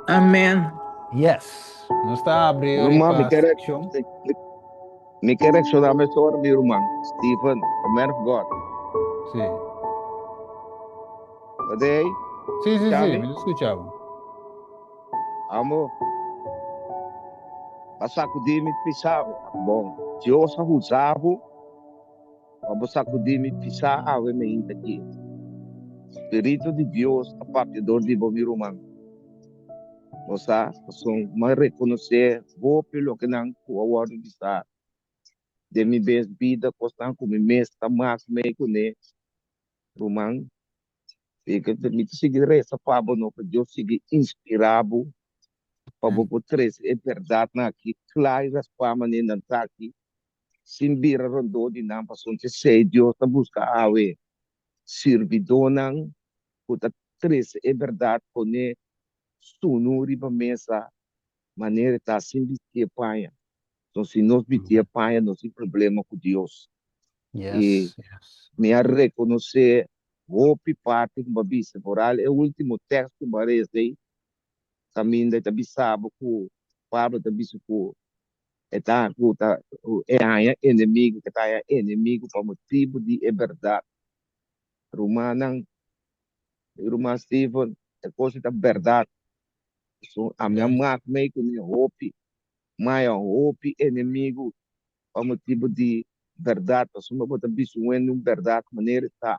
Amen. Yes. Nos ta abri ori Ruman, mi pa kere, seksyon. mi, mi, mi kere rekshoná mes ora mi ruman, Stephen, the man of God. Si. Wat de ei? Si, si, si. Chami? Mi ta skucha bo. Amo, pa sakudí mi pisá, bo, Dios a huzá bo pa bo sakudí mi pisá awe mi hinta kiet. Spiritu di Dios ta papia dor di bo mi ruman. Bo sa pasobra mi a rekonosé hopi di lokenan ku a wòrdu bisá den mi mes bida, kosnan ku mi mes ta mas mei ku ne ruman. Así ke mi ta sigui resa pa bo no pa Dios sigui inspirá bo pa bo por trese e bèrdatnan akí kla i raspá manera nan ta akí. sin bira rondó di nan, pasobra esei Dios ta buska awe sirbidónan ku ta trese e bèrdat pon'é sunu riba mesa manera e ta sin bistié paña. Enton si nos bistié paña nos tin problema ku Dios. I mi a rekonosé hopi parti ku bo a bisa, foral e último tèks ku bo a reza ei, kaminda e ta bisa bo ku Pablo ta bisa ku E ta ku ta ku e haña enemigu, ku ta haña enemigu pa motibu di e bèrdat. Rumannan i Ruman Steven, e kos ta bèrdat. So, ami a mak mei ku mi hopi, maya hopi enemigu pa motibu di bèrdat. Pasobra bo ta bisa un hende un bèrdat manera i ta.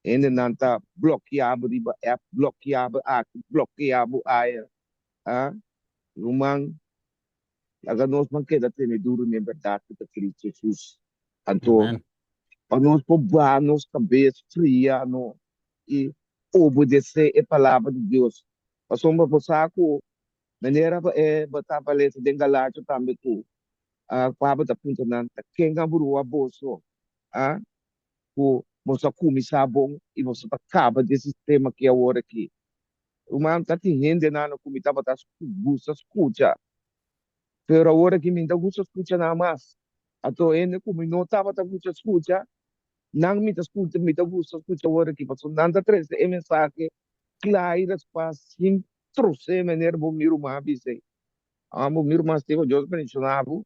Hendenan ta blokia bo riba app, blokia bo aki, blokia bo aya. A Ruman Laga nos nan keda tene duru n'e bèrdat ku ta Kristu Hesus. Anto, pa nos por bra nos kabes fria no i obedesé e palabra di Dios. Pasobra bo sa ku manera bo a bata balesa den Galacia tambe ku Pablo ta puntra nan, Ta ken a brua boso ku boso a kuminsá bon i boso ta kaba den sistema ki awor aki? Ruman, ta tin hende nan no ku mi tabata gusta skucha, pero awor aki mi ta gusta skucha nan mas. Ato hende ku mi no tabata gusta skucha, nan mi ta skucha, mi ta gusta skucha awor aki, pasobra nan ta trese e mensahe kla i respues sin trose manera bo mi ruman a bisa ei. Bo mi ruman Stefan, Dios bendiciona bo,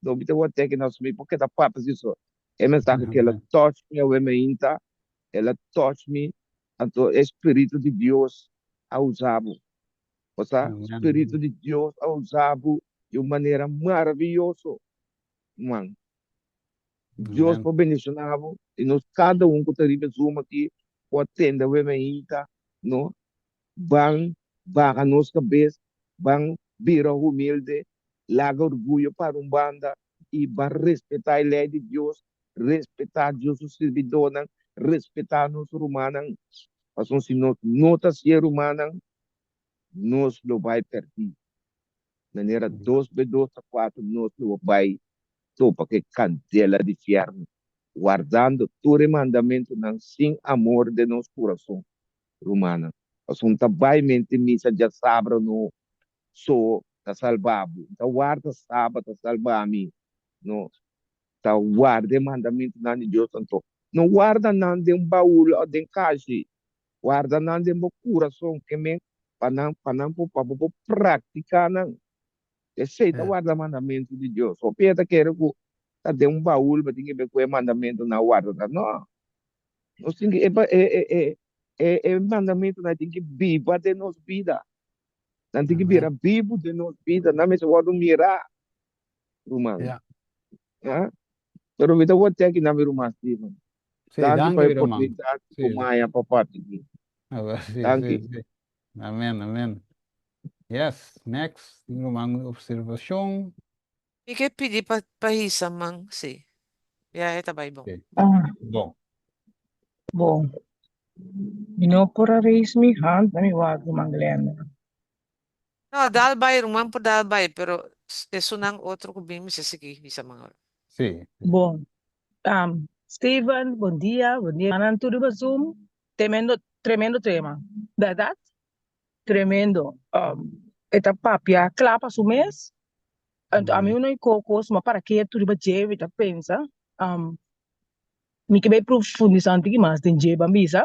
no mi ta wak teke nan so mi por keda papia si so. E mensahe aki el a touch mi awe mainta, el a touch mi Anto e spiritu di Dios a usa bo. Osa spiritu di Dios a usa bo di un manera maraviyoso, man. Dios por bendiciona bo i nos kada un ku ta riba e zoom aki por atende awe mainta no ban baha nos kabes, ban bira humilde, laga orguyo para un banda i ban respetá e lei di Dios Respetá Dios su sirbidónan, respetá nos rumannan, pasobra si nos no ta sié rumannan, nos lo bai pèrdí. Manera dos be dos ta kuater, nos lo bai topa ku e kandela di fièrnu, wardando tur e mandamentunan sin amor den nos kurason, rumannan. Pasobra N ta bai mente misa djasabra no so ta salba bo, N ta warda Sabat ta salba mi no. Ta warda e mandamentunan di Dios anto. No warda nan den baul o den kashi. Warda nan den bo kurason, ke men? Pa nan, pa nan por, pa bo por praktiká nan. P'esei ta warda mandamentu di Dios. Hopi hende ta kere ku ta den un baul bo tin ke bai ku e mandamentunan a warda ta. No. Nos tin ki, e mandamentunan tin ki biba den nos bida. Nan tin ki bira bibu den nos bida. Nan mester wòrdu mirá ruman yeah ha pero mi ta wordtje aki na mi ruman Steven sí danki pa e oportunidad sí. cu maya pa parti aquí sí, danki sí, sí. amen amen yes next ruman observacion Mi ke pidi pa pa hisa man si ya e ta bai bon. Bon. Bon. Mi no por a raise mi hand na mi wak ruman Glenda. No, dal bai, ruman por dal bai, pero esun nan otro cu bin mester sigui bisa Manolo. Sí, sí. Bon. Um, Steven, bon dia, bon dia mannan tur riba zoom. Tremendo, tremendo tema. Berdad? Tremendo. Um, e ta papia cla pa su mes. Anto a mi un oi coco suma para ketu riba dje, mi ta pensa, um, mi ke bai profundisa un tiki mas den dje, ban bisa.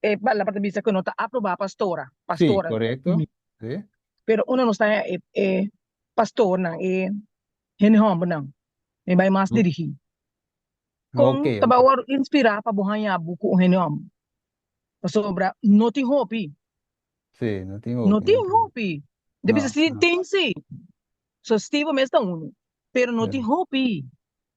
E palabra ta bisa ku no ta aprobá pastora, pastora. Si, korekto. Si. Pero unda nos ta e, e pastornan, e hende hòmbernan? Mi bai mas dirigí. Kon Ok, ta ok. bai wòrdu inspirá pa bo haña bo ku un hende hòmber? Pasobra no tin hopi. Si, no tin hopi. No tin hopi. Bo ta bisa si tin si. So Stevo mes ta unu, pero no tin hopi.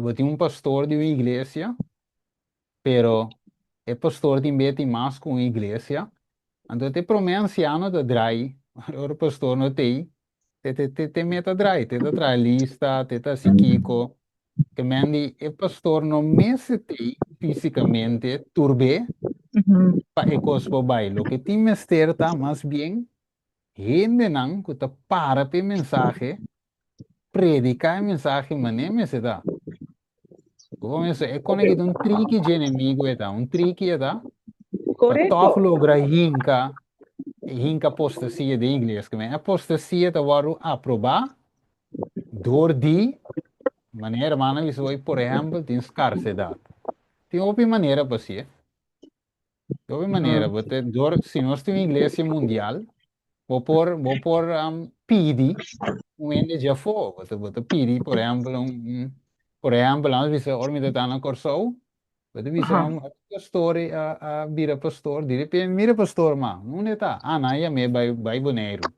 Bo tin un pastor di un iglesia, pero e pastor tin beti mas ku un iglesia, anto te promé ansiano ta drai, ora e pastor no ta ei, te te te te meta drai, te ta traha lista, te ta hasi kiko, te mendi e pastor no mester ta ei fisikamente tur be pa e kos por bai, loke tin mester ta mas bien Hendenan ku ta para pa e mensahe prediká e mensahe mané mester ta. Bo por mester e konekí ta un triki dje enemigu e ta, un triki e ta pa tòg logra hinka hinka apostasia den iglesia. Kuma e apostasia ta wòrdu aprobá dor di manera hermano a bisa bo ei por ehèmpel tin skarsedat tin hopi manera pa hasié. De otra manera, bo te door, si nos tin un iglesia mundial, bo por, bo por um, pidi un hende dje afó. Bo te, bo te pidi, por ehempel, un, un, por ehempel, laat ons bisa, ora mi ta tanda na Kòrsou, bo te bisa, Aha. um, a pastor a, a bira pastor, di repente mi mira pastor, ma, unda e ta? Ah, nan a yam'é bai, bai Boneiru.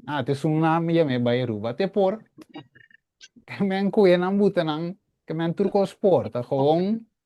Ah, te esun nan a yam'é bai Aruba. Te por, ke men koe nan buta nan, ke men tur kos por, ta gewoon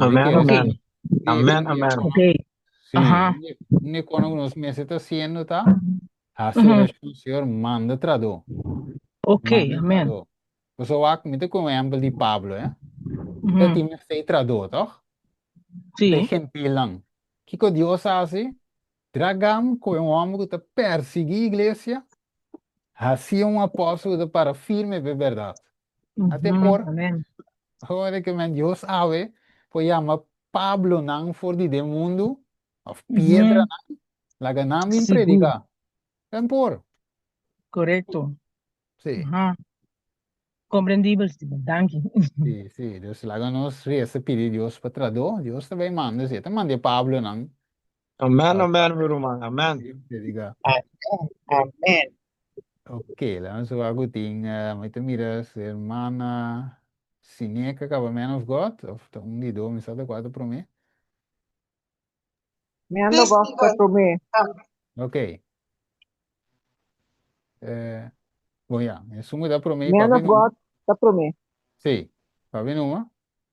Amen, amen. Amen, amen. Okay. Sí. Aha. Ni kono nos mesi ta siendo ta hasi mm -hmm. oracion, Señor, manda trado. Okay, manda amen. Trado. Pues so wak mi te con ejemplo di Pablo, eh. Mm -hmm. Ti me sei trado, toch? Sí. Te gentil lang. Kiko Dios hasi? Dragan, ku e un hòmber ku ta pèrsiguí iglesia, hasi un apòstel ku ta para firme pa e bèrdat. Ate por, ora ku men Dios awe por yama Pablonan for di den mundu, òf piedranan, laga nan bin prediká. Men por. Korekto. Sí. Aha. Komprendibel, Steven. Danki. Sí, sí. Dus laga nos resa pidi Dios pa tradó. Dios ta bai manda esei. Ta manda e Pablonan Amen amen mi ruman amen. Predica. Amen, amen. Ok, la nos a cu tin, eh, mi te mira si hermana Sineca acaba Man of God, of ta un di do, mi sa de cuatro promé. Mi ando Yes, gosta Lord. tu me. Ok. Eh, bon ya, mi sumo da promé, Mi ando papi numa. God ta promé. Sí, papi numa.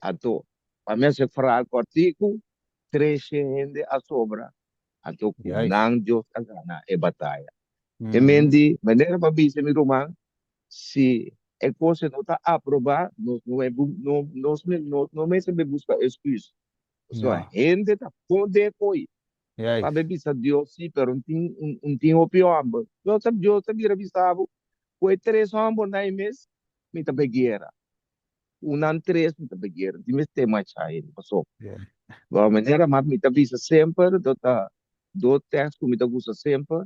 Anto, pa mester fraha kòrtiku, treshe hende a sobra. Anto ku nan Dios ta gana e bataya? E men di manera pa bisa mi ruman, Si e kos ei no ta aprobá, nos no mester nos no mester be buska èsküs. Pasobra hende ta bon den hopi pa be bisa Dios sí, pero no tin hopi hòmber. Dios ta bira bisa bo, Ku e tres hòmbernan ei mes mi ta be guera? Un nan tres mi ta beger di mi stay much high mi paso bo manera mat mi ta bisa semper do ta do test ku mi ta usa semper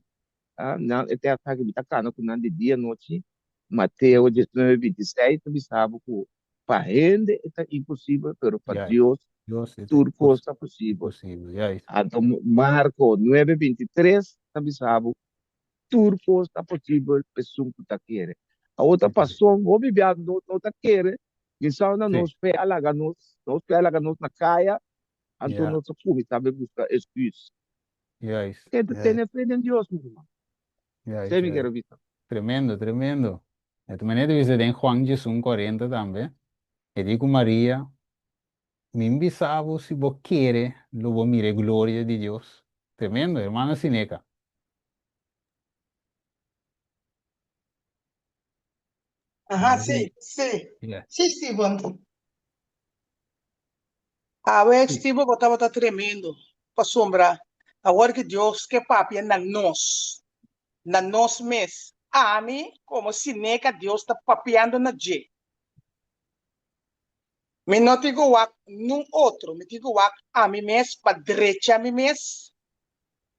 a nan e test aki mi ta kana ku nan di dia nochi Mateo diecinueve binti i seis ta bisa bo ku pa hende e ta imposibel pero pa Dios tur kos ta posibel anto Marko nuebe binti i tres ta bisa bo tur cos ta posibel pesun cu ta kere. Awor ta pason, hopi biaha nos no ta kere, mi sao na nos fe a laga nos, nos fe a laga nos na caya, anto nos a cuminsa be busca excus. Kende ta tene fe den Dios, mi herman. Esey mi kere bisa. Tremendo, tremendo. Di manera ta bisa den Juan djesun kuarenta tambe, e di cu Maria Mi bisa bo, si bo kere, lo bo mira e gloria di Dios. Tremendo, hermano Sineca. Aha, si, si. Ya. Si, Steven. Awe, Si. Steven, bo tabata tremendo. Pasobra awor ke Dios ke papia na nos, na nos mes, ami, komo Sineca, Dios ta papiando na dje. Mi no tin ku wak nun otro, mi tin ku wak ami mes pa drecha mi mes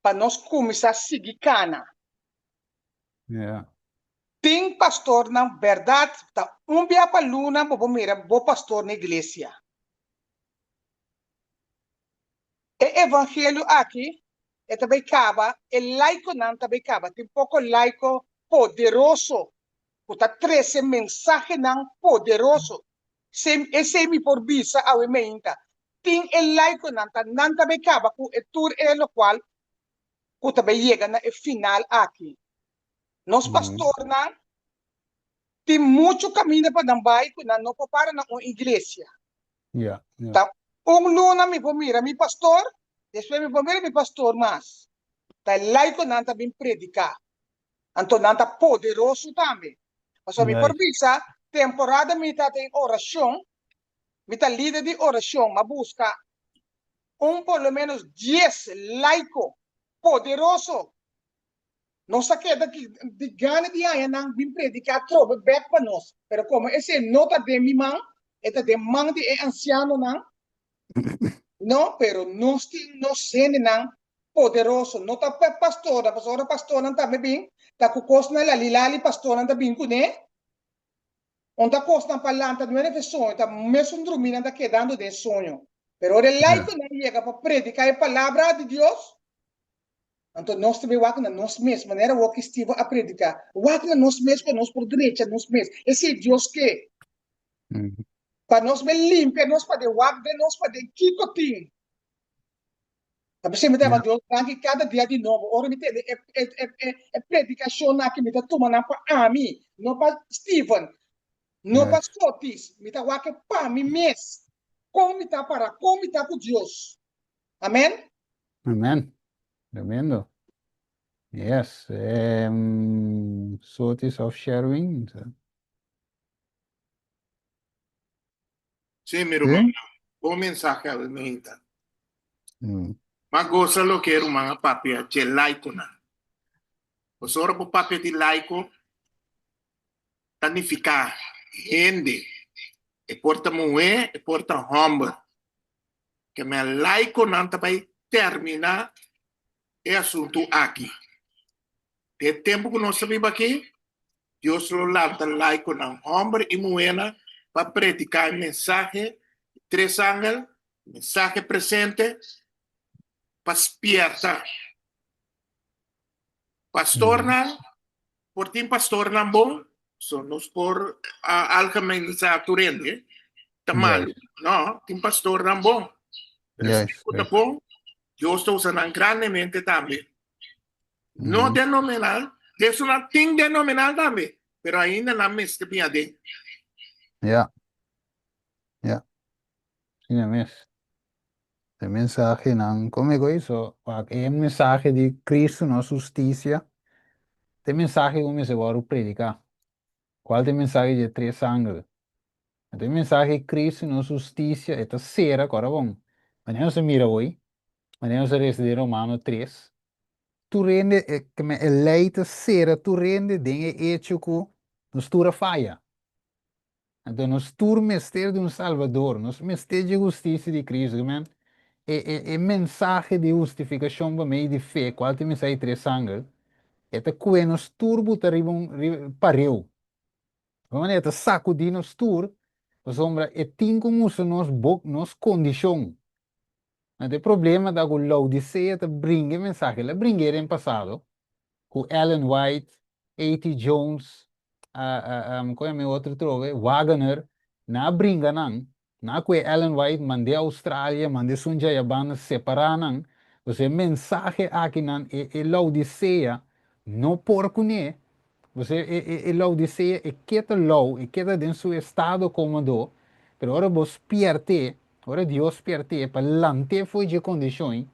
pa nos kuminsá sigui kana. Yeah. Tin pastornan, bèrdat, ta un bia pa luna bo por mira bo pastor na iglesia. E evangelio aki e ta bai kaba, e laikonan ta bai kaba, tin poko laiko poderoso ku ta trese mensahenan poderoso. Se esei mi por bisa awe mainta, tin e laikonan ta nan ta bay kaba ku e tur ei lokual ku ta bay yega na e final aki. Nos pastornan tin muchu kaminda pa nan bay ku nan no por para na un iglesia. Ta un luna mi por mira mi pastor, despues mi por mira mi pastor mas. Ta e laikonan ta bin prediká. Anto nan ta poderoso tambe. Pasobra mi por bisa temporada mi ta den oracion, mi ta lider di oracion, m'a busca un por lo menos dies laico poderoso. Nos a keda di gana di haña nan bin predica trobe bek pa nos, pero como esei no ta den mi man, e ta den man di e ancianonan, No, pero nos tin nos hendenan poderoso. No ta pa pastornan, pasobra ora pastornan ta me bin, ta ku kosnan lali lali pastornan ta bin kuné. Unda ta kosnan pa lanta nueve e soño, ta mesun drumí nan ta kedando den e soño. Pero ora e laikonan yega pa prediká e palabra di Dios, Anto nos tambe wak na nos mes, manera wak i Steven a prediká. Wak na nos mes pa nos por drecha nos mes. Esei Dios ke. Pa nos be limpia nos paden wak den nos paden kiko tin. A bisa mi ta heba Dios granti kada dia di nobo, ora mi tende e predikashonnan aki mi ta tuma nan pa ami, no pa Steven, no pa Scotties. Mi ta wak e pa mi mes. Kon mi ta para? Kon mi ta ku Dios? Amen. Amen. Tremendo. Yes. Um, Sotis of Sherwin. Sí, mi hermano. ¿Sí? Bon mensaje a Benita. Mm. Mas goza lo que hermana papi a che laico na. Pues ahora por papi di laico tanifica gente. E porta mujer, e porta hombre. ke mi a like ku nan ta bai terminá e asuntu aki. Den e tempu ku nos ta biba aki, Dios lo lanta like ku nan, hòmber i muhénan, pa prediká e mensahe di tres angel, e mensahe presente, pa spièrta pastornan, Por tin pastornan bon, so nos por a algemenizá tur hende, ta malu. No, tin pastornan bon. Pero esnan Yes, ku ta yes. bon, Dios ta usa nan grandemente tambe. No Mhm. denominal, ta esun nan tin denominal tambe, pero ainda nan mester bin aden. Ya. Ya. Asina mes. E mensahenan ku mi goi so, wak e mensahe di Kristu nos hustisia, ta e mensahe ku mester wòrdu prediká. Kual ta e mensahe dje tres sangel? Anto e mensahe di Kristu nos hustisia e ta sera kòrda bon. Manera nos a mira oi, manera nos a resa den Romano tres, tur hende e e lei ta sera tur hende den e echo ku nos tur a faya. Anto nos tur mester di un Salvador, nos mester dje hustisia di Kristu. Amen. E, e, e mensahe di hustifikashon pa mei di fe, kual ta minsai tres sanger, e ta kue nos tur buta riba un riba pareu. Di un manera, e ta sakudi nos tur, pasobra e tin ku musa nos bok nos kondishon. No ta e problema ta ku Laodicea ta bringa e mensahe. El a bring'é den pasado ku Ellen White, A.T. Jones, kon yama e otro trobe, Wagoner, nan a bringa nan. Nan a kue Ellen White mand'é Australia, mand'é esun dja ya banda, separá nan. Entonces e mensahe akinan e Laodicea no por kuné. Bo sa e, e, e Laodicea e keda lou, e keda den su estado como do, pero ora bo spierte, ora Dios spierte pa lante foi je condición,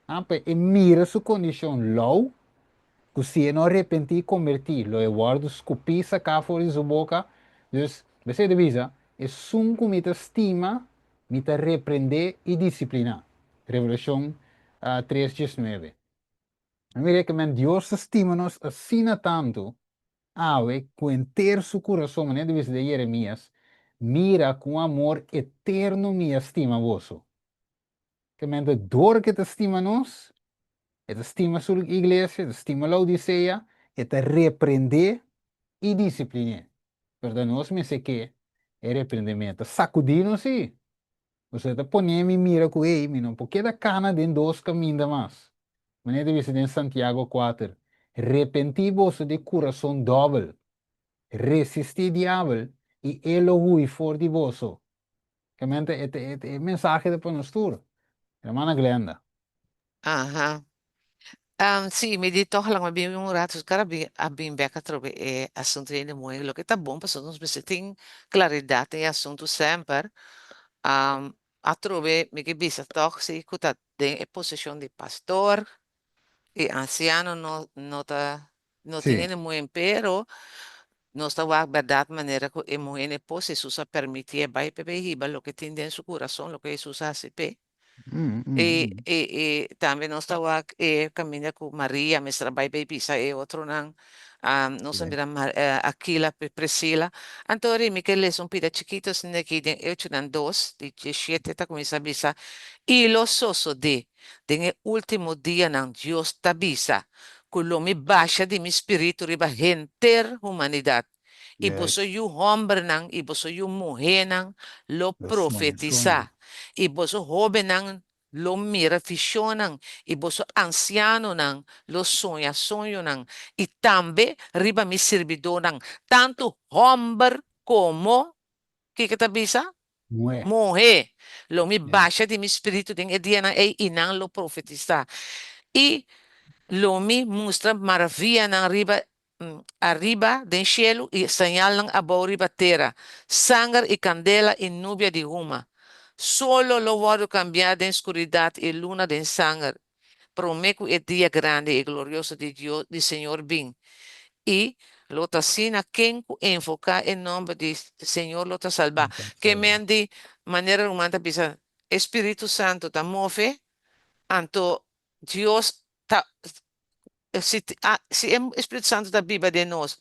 ah, pa e mira su condición lou, cu si e no arrepentí y convertí, lo e worde scupí sacá for di su boca, dus, Bese ta bisa, esun cu mi ta stima, mi ta reprendé y discipliná. Revelacion uh, tres diesnueve. Nan mi rekemen, Dios ta stima nos asina tantu awe ku henter su kurason, manera di bisa di Jeremias, Mira ku amor eterno mi a stima boso. Kemente dor ke ta stima nos, e ta stima su iglesia, e ta stima Laodicea, e ta reprendé i disipliné. Pero ta nos mester ke e reprendimento sakudí nos sí. José ta pone mi mira ku ei, mi no por keda kana den dos kaminda mas. Manera ta bisa den Santiago kuater, Repentí boso di kurason dòbel, resistí diabel i e lo hui for di boso. Kamente e mensahe ta pa nos tur, Hermana Glenda. Aha. Am, sí, mi di tòg laga mi bin un rato so kara bin a bin bèk atrobe e asuntu den e muhe. Loke ta bon pasobra nos mester tin klaridat den e asuntu semper. Am, atrobe mi ke bisa tòg si ku ta den e poseshon di pastor i ansiano no no ta no tin Sí. den e muhen pero nos ta wak bèrdat manera ku e muhen e posi Hesus a permití e bai p'e bai hiba loke tin den su kurason, loke Hesus a hasi p'e. E e e tambe nos ta wak e kaminda ku Maria mester a bai bay bisa e otronan, nos a mira Akila ku Prisila, anto a rimi ke leson pida chikito asina aki den Eochonan dos di diesiete ta kuminsá bisa, I lo sosodé den e último dianan Dios ta bisa ku lo mi basha di mi spiritu riba henter humanidat, y boso yu hombernan y boso yu muhénan lo profetisá, y boso hóbennan lo mira fishonnan, y boso ansianonan lo soña soñonan, y tambe riba mi sirbidónan, tantu homber komo, kiko ta bisa? muhé, lo mi basha di mi Spiritu den e dianan ei, y nan lo profetisá, y lo mi mustra maravianan riba ariba den shelu i sañalnan abou riba tera, sanger i kandela i nubia di huma. Solo lo wòrdu kambiá den skuridat i luna den sanger, promé ku e dia grandi i glorioso di Dios di Señor bin. I lo ta asina ken ku invoká e nòmber di Señor lo ta salbá. Kèmen di manera ruman ta bisa e spiritu santu ta move, anto Dios ta si si e Espíritu Santo ta biba den nos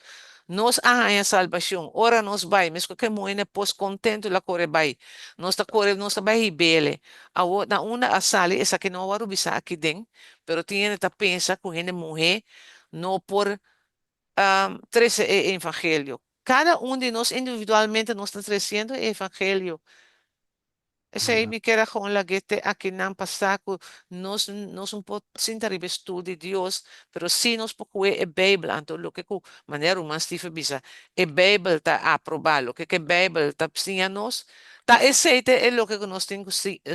nos a haña salbacion ora nos bai mes cu ke muhene pos contentu la core bai nos ta core nos ta bai hibele awor na unda a sali esaki no a wòrdu bisa aki den pero tin hende ta pensa cu hende muhe no por trece e evangelio. Cada un di nos individualmente nos ta treciendo e evangelio. Esey mi kier a gewoon lag'é te akinan pa sa cu nos nos no por sinta riba e stoel di Dios, pero sí nos por coge e Bijbel, anto loke cu manera Ruman Steve a bisa, e Bijbel ta aproba, loke cu e Bijbel ta siña nos, ta esey te e loke cu nos tin cu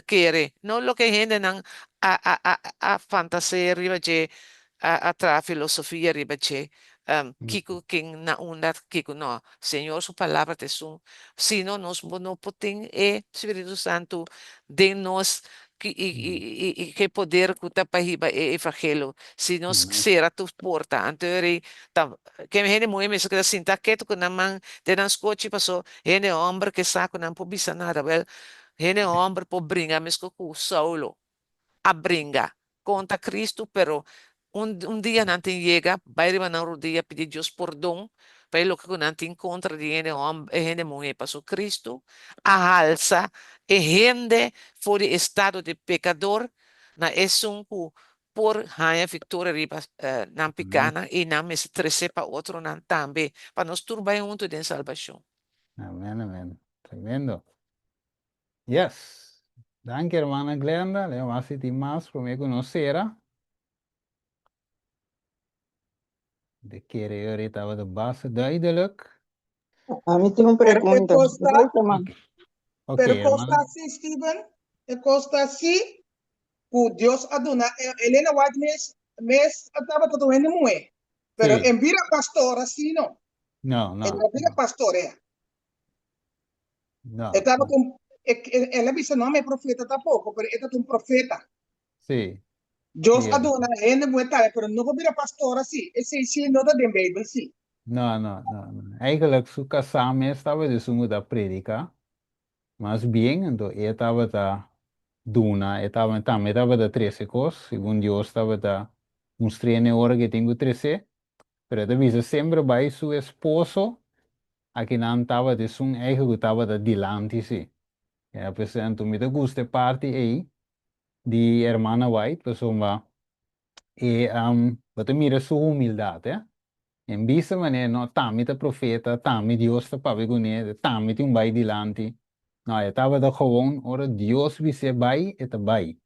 kere, no loke e hendenan a a a a fantasea riba dje A traha filosofia riba dje, kiko ken na unda, kiko no. Señor su palabra ta esun, si no nos bo no por tin e Spiritu Santu den nos y ke poder ku ta pa hiba e evangelio, si nos sera tur porta, anto e rei ta, ken hende muhe mester keda sinta ketu ku nan man den nan skochi paso hende homber ke sa ku nan por bisa nada, wel hende homber por bringa mesko ku Saulo, a bringa contra Cristo pero un dia nan tin yega bay riba nan rodia pidi Dios pordon pa e loke cu nan tin contra di hende homber e hende muher pasobra Cristo a halsa e hende for di estado di pecador na esun cu por haya victoria riba nan picanan y nan mester trece pa otronan tambe pa nos tur bay hunto den salbacion. Amen amen tremendo. Yes. Danki hermana Glenda, lei mas di tin mas prome cu nos cera. De kere yo ri taba de base duidelijk. A mi tin un Pero e pregunta. costa, Doe seman. Oké, oké, pero e costa hermana. así, Steven, e costa así, cu Dios a duna, e, Elena White mes, mes a tabata tu hende muhé, pero Sí. e no bira pastor así, no. No, E no. no a bira pastor ea. No. E tabata un, e, e, el a bisa, no, mi profeta ta poko, pero e ta un profeta. Sí. Dios a Cierto. duna hende buen tale, pero no por bira pastor así. Ese sí no ta den Bijbel, sí. No, no, no, no. Eigenlijk su kasá mes tabata di su muda a predika. Mas bien, ento e tabata duna, e tabata, tambe tabata trese kos, segun Dios tabata mustr'e nan e ora ku e tin ku tres'é. Pero e ta bisa, semper bai su esposo Aki nan tabata esun eigen cu tabata dilanti si. Ya pues anto mi ta gusta e parti ey di e hermana White pasobra e bo ta mira su humildad eh. En bista manera no tambe ta profeta, tambe Dios ta papia cu ne, tambe tin un bay dilanti. No, e tabata gewoon ora Dios bis'e bay e ta bay.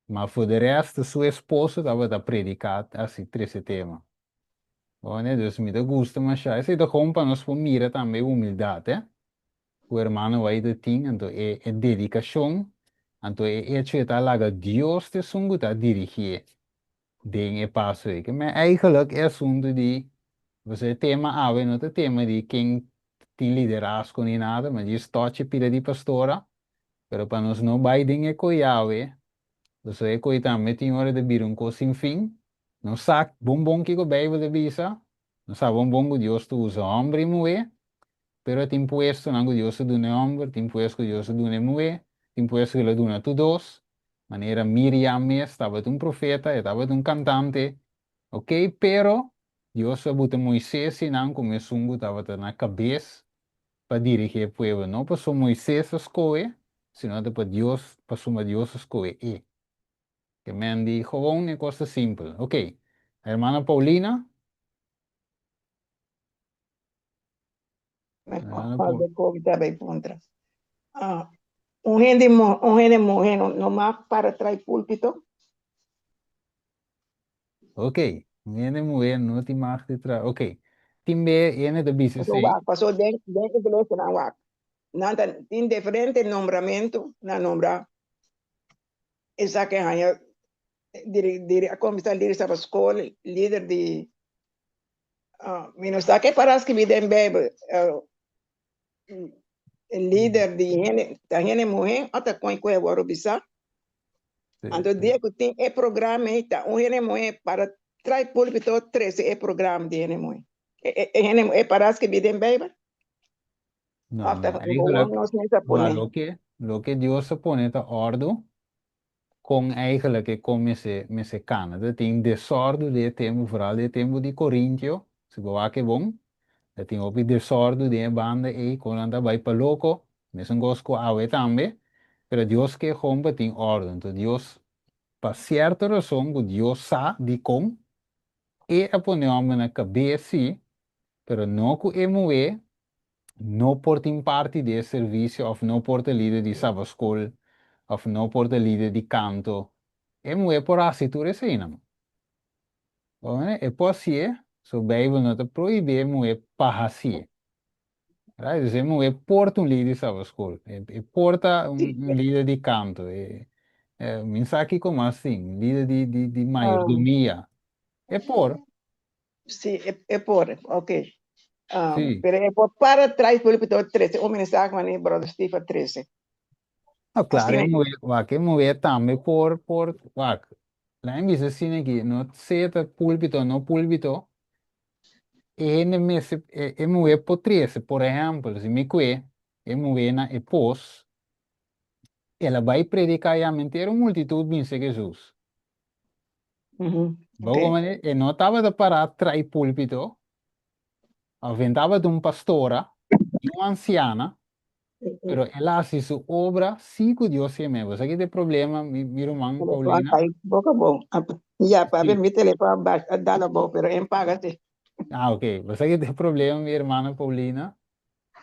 Ma for de resto su esposo tabata predica así trece tema. Oné, dus mi ta gusta mashá. Esei ta hon pa nos por mira tambe e humildad, eh, cu hermano Wai ta tin, anto e, e dedicacion, anto e hecho e ta laga Dios t'esun cu ta dirigié. den e paso eke. Me eigenlijk e asuntu di, pasobra e tema awe no ta tema di ken tin liderazgo ni nada, ma dje stòchi pida di pastora, pero pa nos no bai den e koi awe, pasobra e koi tambe tin ora ta bira un kos sin fin. Nos sa bon bon kiko Beibel ta bisa, nos sa bon bon ku Dios ta usa hòmber i muhé, pero e tin puestonan ku Dios a duna e hòmber, tin puesto ku Dios a duna e muhé, tin puesto ku el a duna tur dos, manera Miriam mes tabata un profeta, e tabata un kantante, okay, pero Dios a buta Moises i nan ku mesun ku tabata na kabes pa dirigí e pueblo, no pasobra Moises a skohe, sino ta pa Dios, pasobra Dios a skohe e. Ke men di, Gewoon e kos ta simpel, okay, hermana Paulina, Un hende muhe no mag para trai pulpito? Ok, un hende muhe no tin mag di trai, ok. Tin be hende ta bisa esei. Paso wak, paso den iglesia nan wak, nan tin diferente nombramentu nan nombra. Esaki a haña diri, a comenzá diri staba scol, lider di, mi no sa ke para scribi den Bijbel, lider di hende, ta hende muhé o ta kon ku e wòrdu bisá. Anto dia ku tin e programa ei ta un hende muhé para trai pulpito trese e programa di hende muhé. E hende muhé para scribi den Bijbel? No, Papia no, ta ei bobo, gelijk, nos mester ma pone. loke, loke Dios ta pone ta ordu, kon eigenlijk e kon mester, mester kana. Ta tin desordu den e tempu, vooral den e tempu di Corintio, si bo wak e bon, ta tin hopi desordu den e banda ei, konnan ta bai pa loko, mesun kos ku awe tambe, pero Dios ke homber tin ordu. Enton Dios, pa sierto rason ku Dios sa dikon, e a pone homber na kabes si, Pero no cu e muhé no por tin parti di e servicio of no por ta lider di sabascol of no por ta lider di canto. E muhé por haci tur esei nan. Oe, e por hacié, so Bijbel no ta prohibí e muhé pa hacié. Right? Dus e muhé por ta un lider di sabascol. E, e por ta un, un lider di canto. E, e, min sa kico mas tin, un lider di, di, di mayordomia. E por. Si, e por, ok. Um, sí. Pero e por para trás por locutor 13. Un mensaje mani brother Steve 13. No, claro, e mover, wak, e mover tambe por, por, wak. La en bizo sine ki, no seta pulpito, no pulpito. E hende mese, e, e mover por 13, por ejemplo, si mi kwe, e mover na e pos, e la bai predicá ya mentero multitud binse Jesús. Bogo mane e no tabata pará trai púlpito, afen tabata un pastora i un ansiana, pero el a hasi su obra sí ku Dios ke meba. Sa ki ta e problema, mi, mi ruman Paulina? Boka bon. Ya, pape, mi telefòn a bas, a dal abou, pero e paga si. Ah, ok. Sa ki ta e problema, mi hermana Paulina,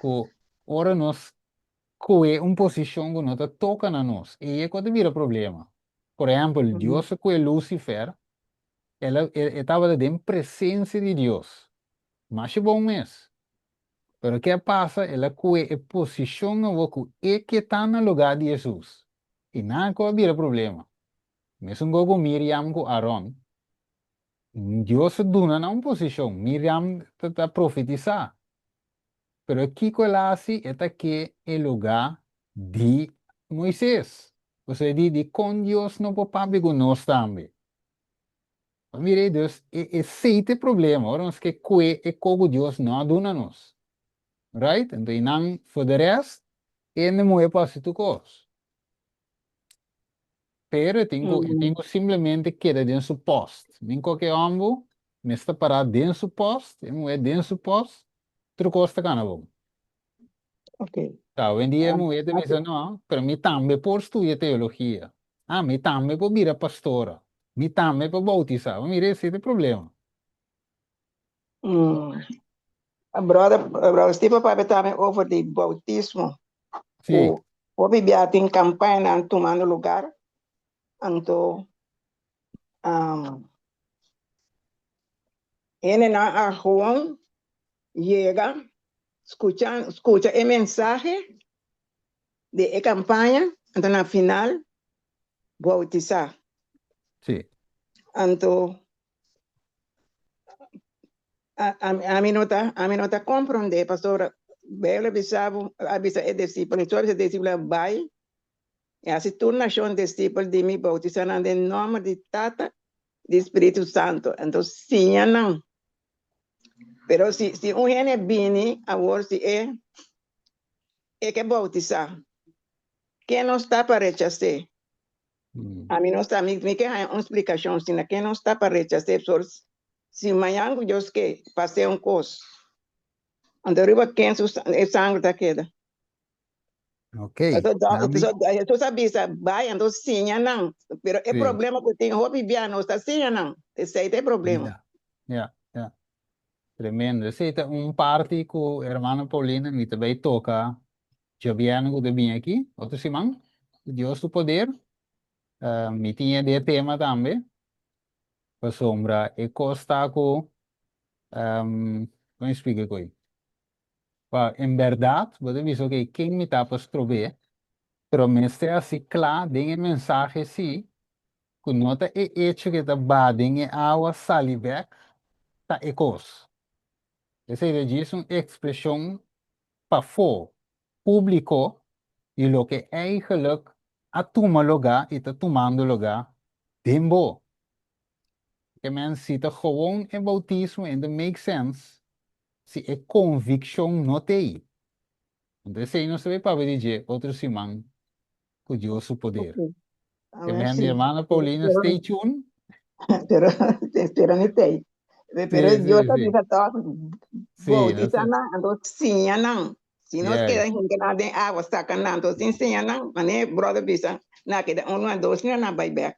ku ora nos Koe un posishon ku no ta toka na nos, ei e ku a ta bira problema. Por ehèmpel, Dios a koe Lusifer, el a, e, e tabata den presensia di Dios, masha bon mes. Pero ke a pasa? El a koe e posishon awor ku e ke ta na lugá di Hesus, i nan a ku a bira problema. Mesun gou ku Miriam ku Aron, Dios a duna nan un posishon, Miriam ta, ta profetisá, Pero kiko el a hasi? E ta ke e lugá di Moises, osea di di kon Dios no por papia ku nos tambe. Bo mira ei, dus e esei ta e problema, ora nos ke kue e ko ku Dios no a duna nos. Right? Anto einan for the rest, hende muhé pa hasi tur kos. Pero e tin ku e tin ku simplemente keda den su post. Min koke ombo mester pará den su post, e muhé den su post, otro kos ta kana bon. Okay. Ta hoendia e muhé ta bisa no, pero mi tambe por studia teologia. Ah, mi tambe por bira pastora. Mi tambe por bautisá. Mira ese ta problema. Brother, brother Steven papia tambe over di bautismo. Si. Ku hopi bia tin kampainan tumando lugar. Anto henenan a hon yega skucha skucha e mensahe di e kampaña anto na final bautisá. Si. Anto Ami no ta ami no ta komprondé pastor Bibel a bisa bo a bisa e disipelnan tur e disipelnan bai i hasi tur nashon disipel di mi boutisá nan den nòmber di Tata di Spiritu Santu anto siña nan pero si si un hende a bini awor si e e ke boutisá ke nos ta pa rechas'é? Ami no sa, mi mi ke haña un splikashon si na ke nos ta pa rechas'é por si mañan ku Dios ke pas'é un kos, anto riba ken su e sangre ta keda? Ok, Pasobra dòk nami pasobra Hesus a bisa, Bai, anto siña nan. Pero e Si. problema ku tin hopi bia nos ta siña nan, esei ta e problema. Ya, ya, ya. Tremendo. Esei ta un parti ku Hermana Paulina mi ta bai toka Giobièrnu ku ta bini aki otro siman, ku Dios su poder. Mi tin e de tema tambe, pasobra e kos ta ku, kiko mi splika ku ei? Pa en bèrdat bo ta bisa oke, ken mi ta pa strobeé? Pero mester a si kla den e mensahe si ku no ta e echo ke ta ba den e awa sali bèk ta e kos. Esei ta djis un ekspreshon pafó públikó di loke èigelek a tuma logá i ta tumando logá den bo. Ke mens si ta gewoon e boutismo en ta make sens si e konvikshon no t'ei. Anto esei nos ta bai papia di dje otro siman cu Dios su poder. Okay. Amen, Amen sí. mi hermana Paulina, pero, stay tuned. pero te espero mi tijd. Pero sí, Dios sí, sí. toch, sí, no sé. nan, entonces siña nan. Si nos yeah. queda gente na den agua, saca nan, entonces enseña nan. Mané, brother bisa, na queda uno a dos, na bai back.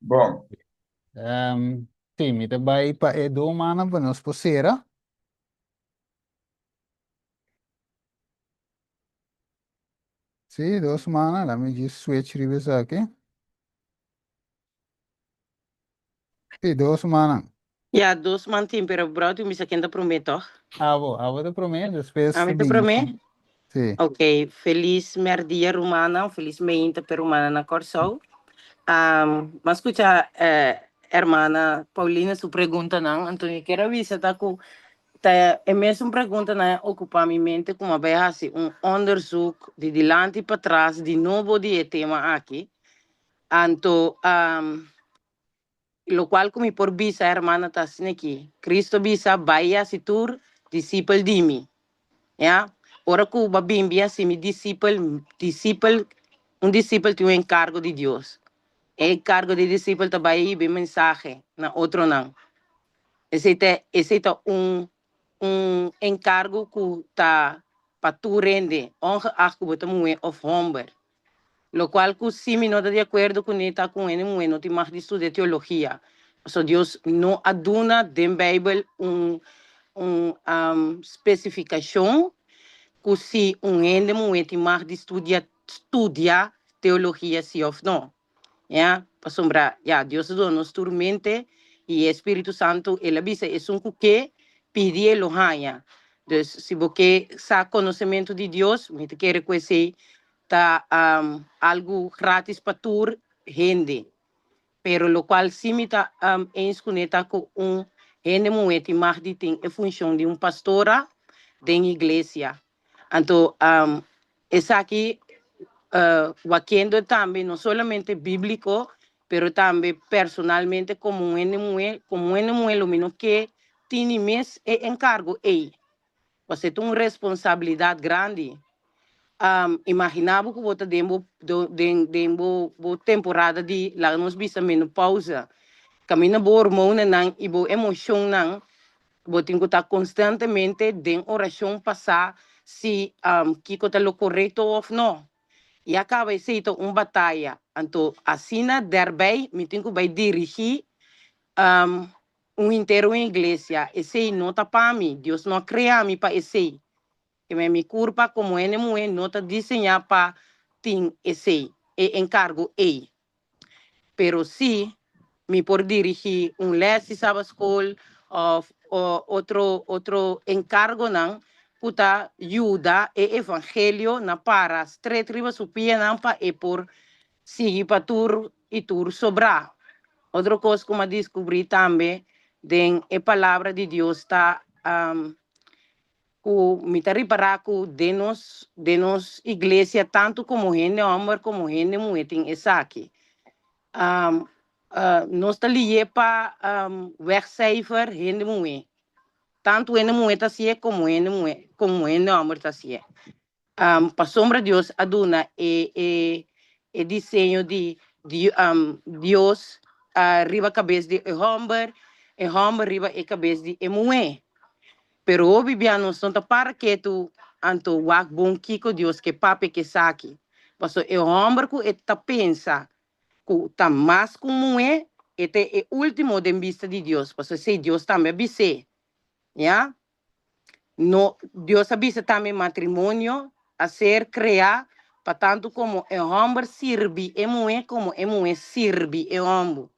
Bon. Ehm, sí, mi ta bai pa e do mana pa nos por cera. Sí, dos mana, la mi just switch riba esaki. Sí, dos mana. Ya dos man tin pero brou tin bisa ken ta prome tog. Abo, abo ta prome despues ta bini. Ami ta prome? Si. Ok, felis mèrdia rumannan, felis meinta p'e rumannan na Kòrsou. M'a skucha e hermana Paulina su preguntanan, anto kier a bisa ta ku ta e mesun preguntanan a okupá mi mente ku m'a bai hasi un òndersuk di dilanti patras di nobo di e tema aki. Anto. Locual cu mi por bisa e hermannan ta asnequi, Cristo bisa, Bai y haci tur discipel di mi. Ea, ora cu bo a bin bin haci mi discipel, discipel, un discipel tin un encargo di Dios. E encargo di e discipel ta bai a hiba e mensahe na otronan. Esey ta, esey ta un, un encargo cu ta pa tur hende, ongeacht cu bo ta muhe of homber. Locual cu si mi no ta di acuerdo cu ne ta cu hende muhe no tin mag di studia teologia, pasobra Dios no a duna den Bijbel un un specificacion cu si un hende muhe tin mag di studia studia teologia si of no. Ya, pasobra ya Dios a duna nos tur mente y e Spiritu Santu el a bisa esun cu ke pidi e lo haya. Dus si bo ke sa conocemento di Dios mi ta kere cu esey ta algo gratis pa tur hende, pero locual si mi ta eens cu ne ta cu un hende muhe tin mag di tin e funcion di un pastora den iglesia. Anto esaki wa kendo tambe no solamente bíbliko, pero tambe personalmente komo un hende muhé. Komo un hende muhé lo mi no ke tini mes e enkargo ei, pask e ta un responsabilidat grandi. Imaginá bo ku bo ta den bo den bo temporada di laga nos bisa menopausa, kaminda bo hormonnan i bo emoshonnan Bo tin ku ta konstantemente den orashon pasá si kiko ta lo korekto òf no. Ya kaba esei ta un bataya. Anto asina dèrbei mi tin ku bai dirigí un henter un iglesia. Esei no ta pa mi. Dios no a krea mi pa esei. Keme mi kurpa komo hende muhé no ta diseñá pa tin esei, e enkargo ei. Pero si mi por dirigí un lès di sabaskol òf otro otro enkargonan ku ta yuda e evangelio na para stret riba su pianan pa e por sigui pa tur i tur sobrá. Otro kos ku mi a diskubrí tambe den e Palabra di Dios ta Ku mi ta ripará ku den nos den nos iglesia tantu komo hende hòmber komo hende muhé tin esaki. nos ta lié pa wegcijfer hende muhé. Tantu hende muhé ta hasié komo hende muhé komo hende hòmber ta hasié. Pasobra Dios a duna e e diseño di Dios riba kabes di e hòmber, e hòmber riba e kabes di e muhé. Pero hopi bia nos no ta para ketu anto wak bon kiko Dios ke papia ku esaki. Paso e hòmber ku e ta pensa ku ta mas ku un muhé, e ta e último den bista di Dios, paso esei Dios tambe a bis'é. Ya No, Dios a bisa tambe matrimonio a ser crea pa tantu como e homber sirbi e muhe como e muhe sirbi e homber.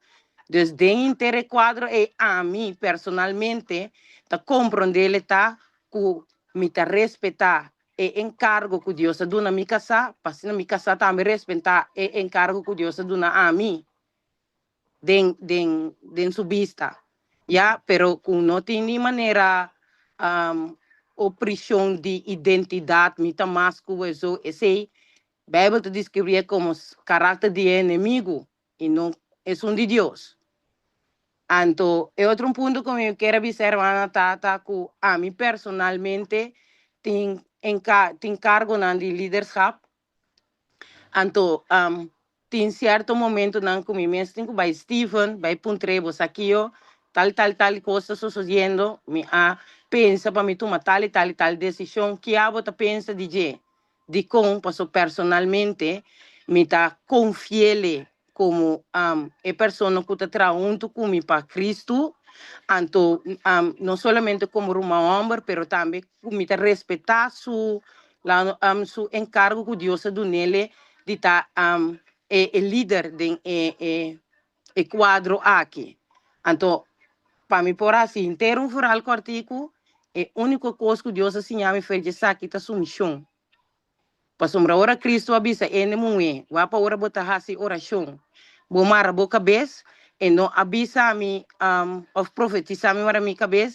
Dus den inter e cuadro ey ami personalmente ta comprendele ta cu mi ta respeta e encargo cu Dios a duna mi casa, pa asina mi casa tambe respeta e encargo cu Dios a duna ami. den den den su bista ya pero cu no tin ni manera um o prishon di identidad mi ta mas cu eso esey bijbel ta describie como caracter di e enemigo y no esun di Dios. Anto e otro un punto cu mi a ker a bisa e hermana ta ta cu ami personalmente tin enca tin cargonan di liderschap Anto, am, tin sierto momentonan cu mi mes tin cu bay Steven, bay puntrebo, Saqueo, tal, tal, tal cos ta sosodiendo, mi a pensa pa mi tuma tal y tal y tal decision, ki abo ta pensa di dje? Dicon? Pasobra personalmente mi ta confiele Komo am e persona ku ta traha huntu ku mi pa Kristu, anto am no solamente komo ruman hòmber, pero tambe ku mi ta respetá su am su enkargo ku Dios a duna el di ta am e e lider den e e e kuadro aki. Anto pa mi por hasi henter un fural kòrtiku, e úniko kos ku Dios a siña mi fer di esaki ta sumishon. Pasobra ora Kristu a bisa ende muhé, Wapa ora bo ta hasi orashon, bo mara bo kabes, e no a bisa mi, òf profetisá mi wara mi kabes,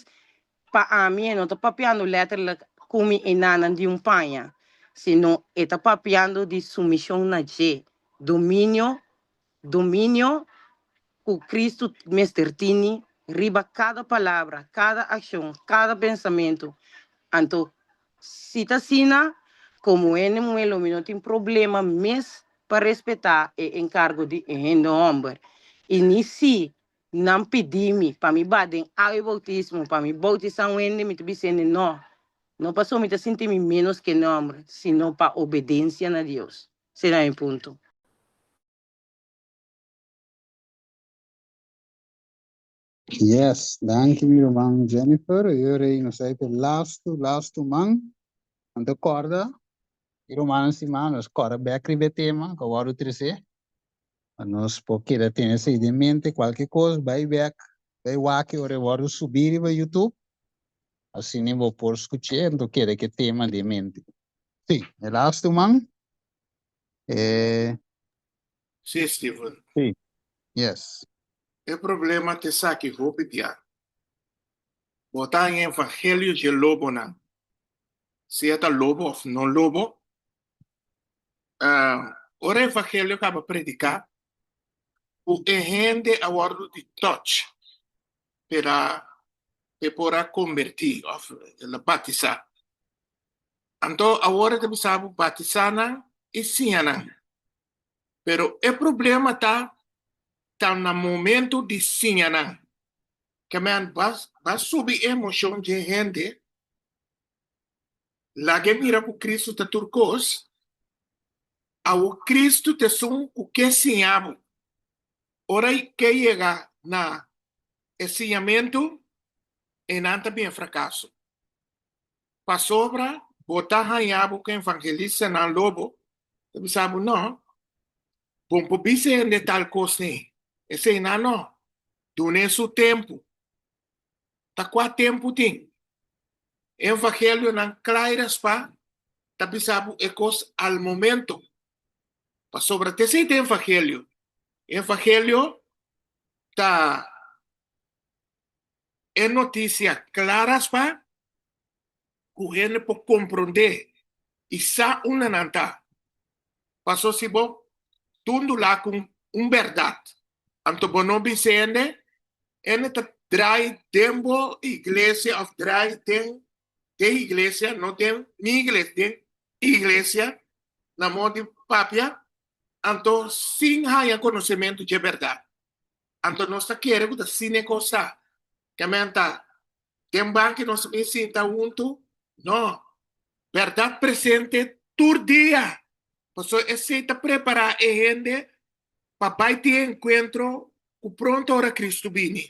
pa ami e no ta papiando lèterlek kumi e nanan di un paña, sino e ta papiando di sumishon na dje, dominio Dominio cu Cristo mester tini riba cada palabra, cada accion, cada pensamento. Anto, si ta asina, como hende muhel lo mi no tin problema mes pa respeta e encargo di e hende homber, y ni si nan pidi mi pa mi ba den awa di bautismo pa mi bautisa un hende, mi ta bisa hende no, no pasobra mi ta sinti mi menos ku hende homber, sino pa obedencia na Dios. Sera e punto. Yes, danki mi ruman Jennifer, yo rei nos a ete lastu lastu man, anto corda y rumannan stima nos corda bek riba e tema cu a wordo trece pa nos por keda tene esey den mente, cualkier cos bay bek bay waki ora e wordo subi riba youtube asina bo por scuche anto keda ki e tema den mente. Sí, e lastu man e. Sí, Steven. Sí, yes. E problema ta esaki hopi bia. Bo ta en evangelio dje lobonan, sea ta lobo of no lobo. Ah, ora e evangelio kaba prediká, ku e hende a wòrdu di touch p'e ra, p'e por a kombertí of batisá. Anto awor e ta bisa bo batisá nan i siña nan. Pero e problema ta ta na momentu di siña nan. Kèman bo a subi e emoshon dje e hende, laga e mira ku Kristu ta tur kos, awor Kristu ta esun ku ke siña bo. Ora ke yega na e siñamentu, einan ta bin e frakaso. Pasobra bo ta haña bo ku evangelistnan lo bo ta bisa bo, No, bo no por bisa hende tal kos ni. Eseinan no. Dun'é su tempu. Ta kua tempu tin. E evangelionan kla i raspá ta bisa bo e kos al momento. Pasobra ta esei ta e evangelio. E evangelio ta E notisia klaras pa ku hende por komprondé i sa unda nan ta. Paso si bo tundulá ku un bèrdat, anto bo no bin si hende, hende ta drai den bo iglesia òf drai den e iglesia, no den mi iglesia, den e iglesia, na mor di papia, anto sin haña konosementu dje bèrdat. Anto nos ta kere ku ta asina e kos ta. Te menta den banki nos ta bin sinta huntu? No. Bèrdat presente tur dia. Pasó esei ta prepará e hende pa bai tin e enkuentro ku pronto ora Kristu bini.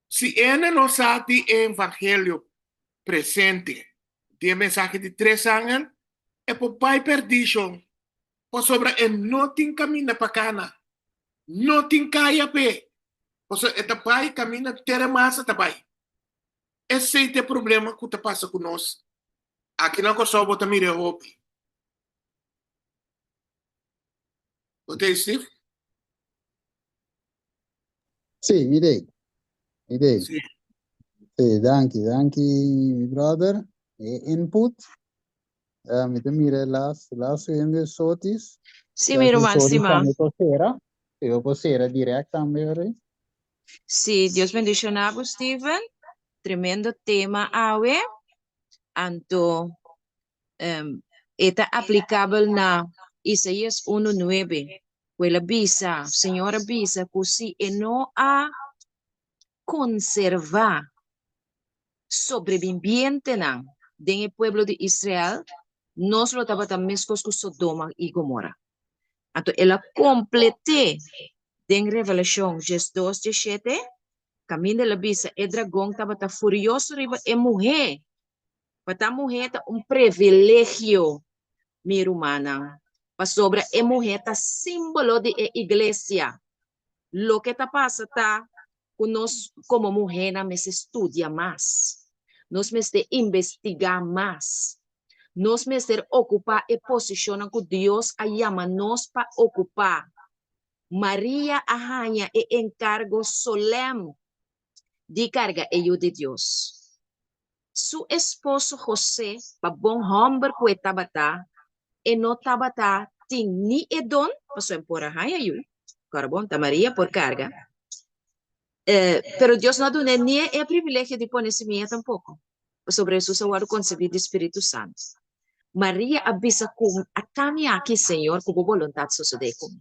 Si hende no sa di e evangelio presente, di e mensahe di tres angel, e por bai pèrdishon. Pasobra e no tin kaminda pa Kana, no tin kaya p'e, pasobra e ta bai kaminda tera mas a ta bai. Esei ta e problema ku ta pasa ku nos aki na Kòrsou, bo ta mir'e hopi. Bo ta ei, Steve? Sí, mi t'ei, mi t'ei. Sí. Sí, danki, danki mi brother, e input. Eh, mi te mira e las, las subiendo e sotis. Sí, mi Las e ruman, sí, sotis ma. tambe por cera. E yo por cera direct tambe, ori. Sí, Dios bendiciona bo, Steven. Tremendo tema awe. Anto, em, e ta aplicabel na Isaías 1:9, cu el a bisa, Señor a bisa cu si e no a konservá sobrebimbientenan den e pueblo di Israel, nos lo tabata meskos ku Sodoma i Gomora. Anto el a komplet'é den Revelashon djes dos djes shete, Kaminda el a bisa e dragon tabata furioso riba e muhé, pa ta muhé ta un previlegio, mi rumannan, pasobra e muhé ta símbolo di e iglesia, Loke ta pasa ta ku nos komo muhénan mester studia mas, nos mester investigá mas, nos mester okupá e posishonnan ku Dios a yama nos pa okupá. Maria a haña e enkargo solèm di karga e Yu di Dios. Su esposo José pa bon homber ku e tabata, e no tabata tin ni e don, pasobra e por a haña yu, korbon, ta Maria por karga. E, pero Dios no a dun'é ni e privilegio di pone simia tampoko, pasobra Hesus a wòrdu konsebí di spiritu santu. Maria a bisa ku mi, a ta mi aki, Señor, ku bo boluntat sosodé ku mi.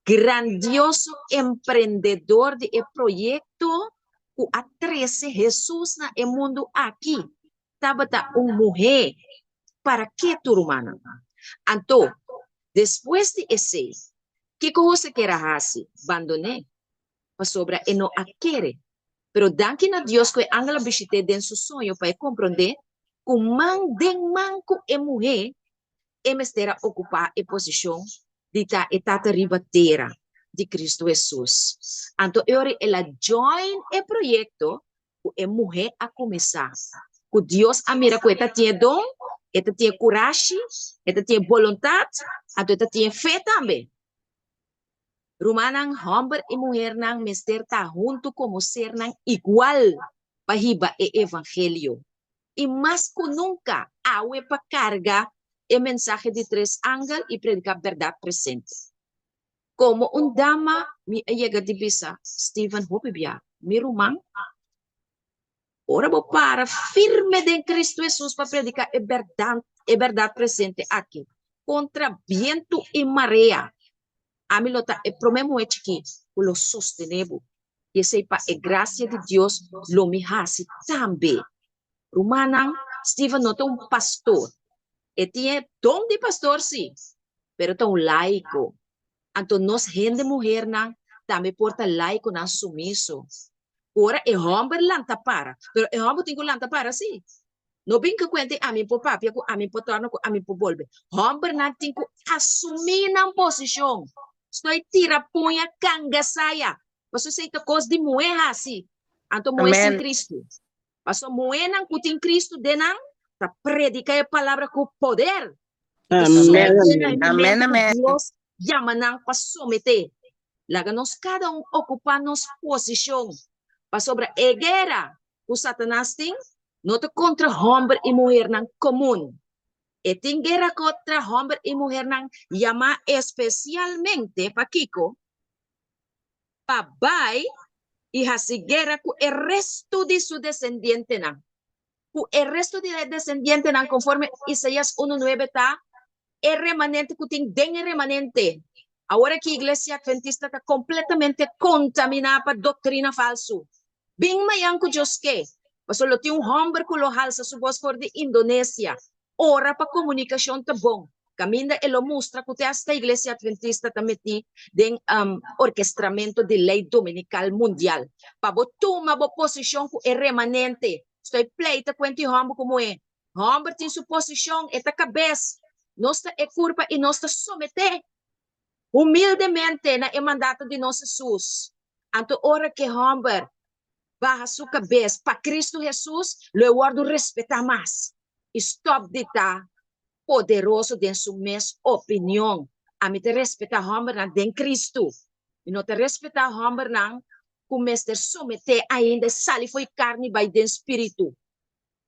Grandioso emprendedor di e proyekto ku a trese Hesus na e mundu aki tabata un muhé. Parakí tur rumannan? Anto, despues di esei, kiko José kere a hasi? Bandon'é, pasobra e no a kere. Pero danki na Dios ku e angel a bishit'é den su soño pa e komprondé ku man den man ku e muhé e mester a okupá e posishon di ta e tata riba tera di Kristu Hesus. Anto e ora el a join e proyekto ku e muhé a kuminsá, ku Dios a mira ku e ta tin e don, e ta tin e kurashi, e ta tin e boluntat, anto e ta tin e fe tambe. Rumannan, hòmber i muhernan mester ta huntu komo sernan igual pa hiba e evangelio. i mas ku nunka awe pa karga e mensahe di tres angel i prediká bèrdat presente. Komo un dama mi a yega di bisa, Stephen, hopi bia, mi ruman, ora bo para firme den Kristu Hesus pa prediká e bèrdat e bèrdat presente aki, kontra bientu i marea, ami lo ta e promé muhé chikí ku lo sostené bo. i esei pa e grasia di Dios lo mi hasi tambe. Rumannan, Stephen no ta un pastor. E tin e don di pastor si, pero ta un laiko. Anto nos hende muhernan tambe por ta laikonan sumiso. Ku ora e hòmber lanta para, pero e hòmber tin ku lanta para si, No binka kuenta i ami por papia ku ami por tòrna ku ami por bolbe. Hòmbernan tin ku asumí nan posishon. Stoi tira puña kanga saya. Pasobra si ei ta kos di muhé hasi, anto muhé sin Kristu. Pasobra muhénan ku tin Kristu den nan ta prediká e palabra ku poder i ta someté nan e mumentu ku Dios yama nan pa someté. Laga nos kada un okupá nos posishon, pasobra e guera ku Satanas tin no ta kontra hòmber i muhernan komun. E tin guera kontra hòmber i muhernan yamá espesialmente, pa kiko? Pa bai i hasi guera ku e restu di su desendientenan, ku e restu di e desendientenan konforme Isaias unu nuebe ta e remanente ku tin den e remanente. Awor aki Iglesia Adventista ta kompletamente kontaminá pa doktrina falsu. Bin mañan ku Dios ke, pasobra lo tin un hòmber ku lo halsa su bos for di Indonesia. Ora pa komunikashon ta bon, kaminda e lo mustra ku te asta Iglesia Adventista ta mití den orkestramentu di lei dominikal mundial. Pa bo tuma bo posishon ku e remanente, stoi pleita ku e anti hòmber komo e, Hòmber tin su posishon, e ta kabes, nos ta e kurpa i nos ta someté humildemente na e mandato di nos Hesus. Anto ora ku e hòmber baha su kabes pa Kristu Hesus, lo e wòrdu respetá mas i stòp di ta poderoso den su mes opinion. Ami ta respetá hòmbernan den Kristu. Mi no ta respetá hòmbernan ku mester someté ainda, e sali fo'i karni bai den spiritu.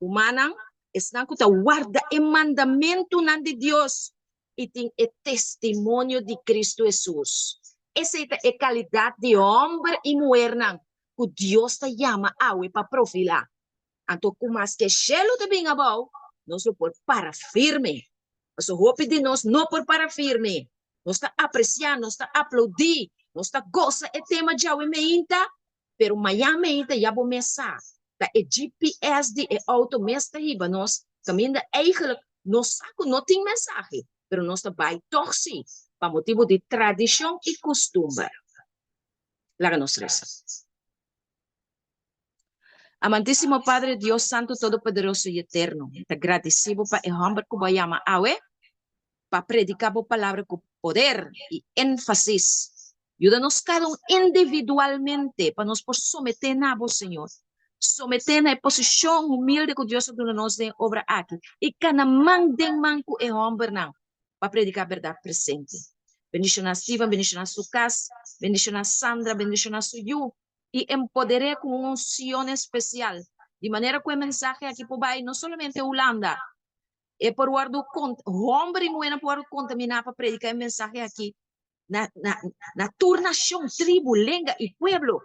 Humannan, esnan ku ta warda e mandamentunan di Dios i tin e testimonio di Kristu Hesus. Esei ta e kalidat di hòmber i muhernan ku Dios ta yama awe pa profilá. Anto ku mas ke shelu ta bin abou, nos lo por para firme. Pasobra hopi di nos no por para firme. Nos ta apresiá, nos ta aplaudí, nos ta gosa e tema djawe meinta Pero Miami ei ta ya bo mes sa, ta e GPS di e auto mes ta hiba nos kaminda eigenlik nos sa ku no tin mensahe pero nos ta bai tog si pa motibu di tradishon i kustumber. Laga nos resa. Amantisimo Padre Dios Santu Todopoderoso i Eterno, mi ta gradisí bo pa e hòmber ku bo a yama awe, pa prediká bo palabra ku poder i énfasis. Yuda nos kada un individualmente pa nos por someté na bo, señor. Someté na e posishon humilde ku Dios a duna nos den e obra aki i kana man den man ku e hòmbernan pa prediká bèrdat presente. Bendishoná Steven, bendishoná su kas, bendishoná Sandra, bendishoná su yu i empoder'é ku un unsion espesial di manera ku e mensahe aki por bai no solamente Hulanda E por wòrdu kont, hòmber i muhé nan por wòrdu kontaminá pa prediká e mensahe akí na, na, na tur nashon, tribu, lenga i pueblo,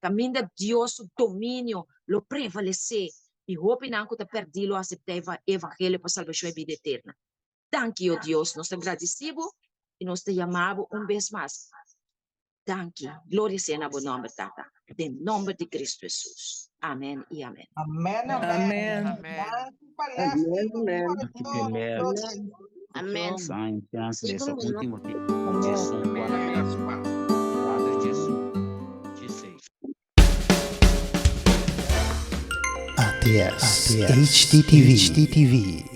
kaminda Dios su dominio lo prevalesé i hopinan ku ta pèrdí lo aseptá e evangelio pa salbashon i bida eterna. Danki, ó Dios, nos ta gradisí Bo i nos ta yamá Bo un bes mas. Danki. Gloria sea na bo nomber, Tata. Den nomber di Cristo Jesus. Amen y amen. Amen, amen. Amen. Amen. Amen. ATS, HTTV.